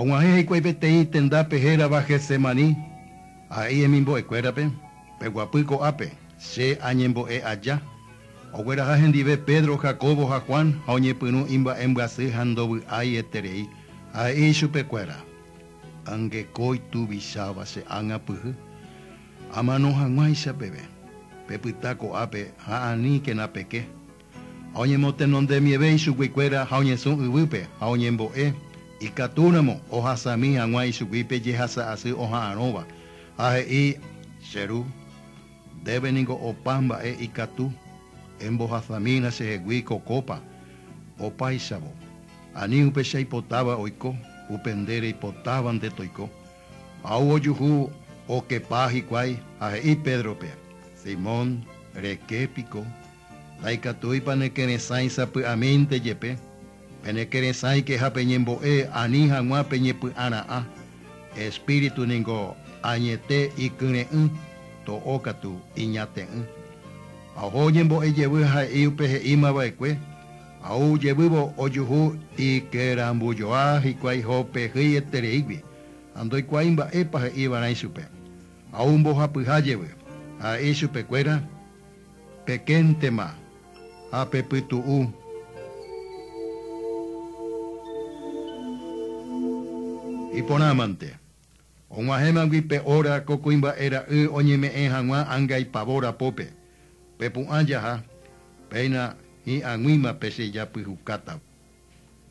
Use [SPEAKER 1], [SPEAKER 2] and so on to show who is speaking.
[SPEAKER 1] Og̃uahẽ hikuái peteĩ tendápe hérava Getsemaní, Ha'e hemimbo'ekuérape, Peguapy ko'ápe, Che añembo'e aja. Ogueraha hendive Pedro, Jacobo ha Juan ha oñepyrũ imba'embyasy ha ndovy'ái eterei, ha he'i ichupekuéra, Angeko ituvicháva che ág̃a pyhy. Amano hag̃uáicha peve, pepyta ko'ápe ha ani kena peke. Ha oñemotenonde mieve ichuguikuéra ha oñesũ yvýpe, ha oñembo'e, ikatúramo ohasami hag̃ua ichuguípe jehasa asy oha'arõva, ha he'i, Che ru, ndéve ningo opa mba'e ikatu, embohasamína chehegui ko kópa, opáichavo, ani upe che aipotáva oiko, upe nde reipotáva nde toiko. Ha oguojuhu okepa hikuái ha he'i Pédrope, Simón, reke piko? Ndaikatúipa nekeresãi sapy'amínte jepe, penekeresãike ha peñembo'e ani hag̃ua peñepy'ara'ã. Espíritu ningo añete ikyre'ỹ, to'o katu, iñate'ỹ. Ha oho oñembo'e jevy ha he'i upe he'íma va'ekue, ha ou jevývo ojuhu ikerambujoa hikuái Jope hýi etereígui, ha ndoikuaái mba'épa he'ívarã ichupe. Ha ou mbohapyha jevy, ha he'i chupekuéra, Pekéntema ha pepytu'u. Iporãmante, og̃uahẽmagui pe óra ko kuimba'e ra'y oñeme'ẽ hag̃ua ánga ipavór apópe, pepu'ã jaha, péina hi'ag̃uíma pe che japyhukátava.